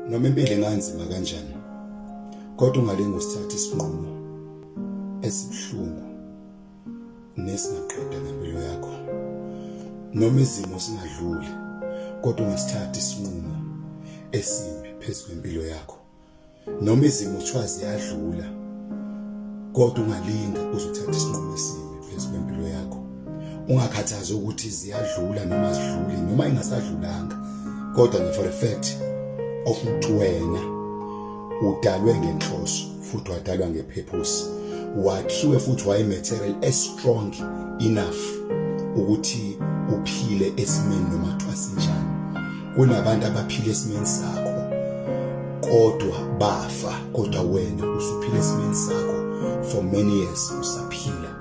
noma impilo inganzima kanjani kodwa ungalinga usithatha isinqumo esibuhlungu nesingaqeda ngempilo yakho noma izimo singadluli kodwa ungasithatha isinqumo esimbi phezu kwempilo yakho noma izimo kuthiwa ziyadlula kodwa ungalinda uzothatha isinqumo esibi phezu kwempilo yakho ungakhathazi ukuthi ziyadlula noma zidluli noma ingasadlulanga kodwa nge for a fact of uwena udalwe ngenhloso futhi wadalwa ngepurpose wakhiwe futhi waye material as strong enough ukuthi uphile esimeni noma thwasinjani kunabantu abaphila esimeni sakho kodwa bafa kodwa wena usuphila esimeni sakho for many years usaphila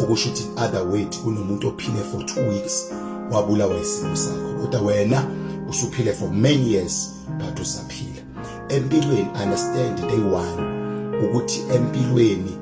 okusho ukuthi other way kunomuntu ophile for 2 weeks wabulawa isimo sakho kodwa wena usuphile for many years but usaphila empilweni understand day one ukuthi empilweni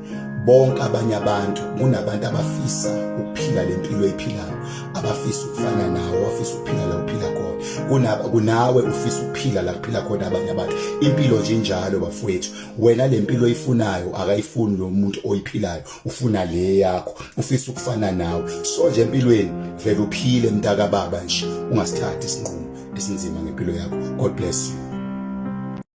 bonke abanye abantu kunabantu abafisa ukuphila le mpilo ephilayo abafisa ukufana nawe wafisa ukuphila la uphila khona kunaba kunawe ufisa ukuphila la kuphila khona abanye abantu impilo nje njalo bafowethu wena le mpilo oyifunayo akayifuni lo muntu oyiphilayo ufuna le yakho ufisa ukufana nawe so nje empilweni vele uphile mntaka baba nje ungasithathi isinqumo esinzima ngempilo yakho god bless you